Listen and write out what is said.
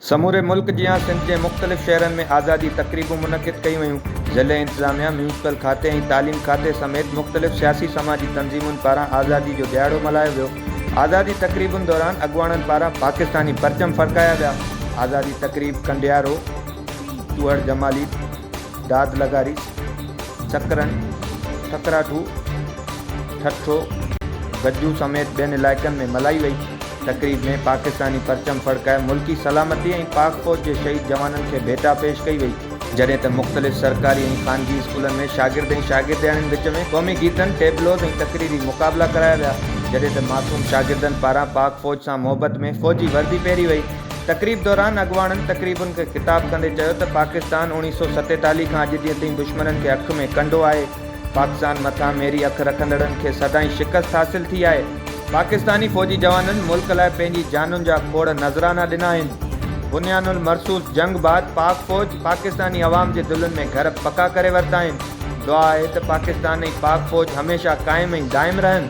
سموري ملڪ جيان سنڌ جي مختلف شهرن ۾ آزادي تقريبون منعقد ڪيون ويون. ضلعي انتظاميا، ميونسپل کاتي ۽ تعليم کاتي سميت مختلف سياسي سماجي تنظيمن پاران آزادي جو ڏهاڙو ملهايو ويو. آزادي تقريبن دوران اڳواڻن پاران پاڪستاني پرچم ڦڙڪايا ويا. آزادي تقريب ڪنڊيارو، چوهڙ جمالي، داد لغاري، سڪرن، ٺڪراٺو، ٺٽو، گجو سميت ٻين علائقن ۾ ملهائي وئي. تقريب ۾ پاڪستاني پرچم ڦڙڪائي ملڪي سلامتي ۽ پاڪ فوج جي شهيد جوانن کي ڀيٽا پيش ڪئي وئي. جڏهن ته مختلف سرڪاري ۽ خانگي اسڪولن ۾ شاگرد ۽ شاگردياڻين وچ ۾ قومي گيتن، ٽيبلوز ۽ تقريري مقابلا ڪرايا ويا، جڏهن ته معصوم شاگردن پاران پاڪ فوج سان محبت ۾ فوجي وردي پهري وئي. تقريب دوران اڳواڻن تقريبن کي خطاب ڪندي چيو ته پاڪستان اوڻيهه سؤ ستيتاليهه کان اڄ ڏينهن تائين دشمنن کي اک ۾ ڪنڊو آهي، پاڪستان مٿان ميري اک رکندڙن کي سدائين شڪست حاصل ٿي آهي، پاڪستاني فوجي جوانن ملڪ لاء پنهنجي جانن جا کوڙ نذرانا ڏنا آهن، بنيان المرصوص جنگ بعد پاڪ فوج پاڪستاني عوام جي دلن ۾ گهر پڪا ڪري ورتا آهن، دعا آهي ته پاڪستان ۽ پاڪ فوج هميشه قائم ۽ دائم رهن.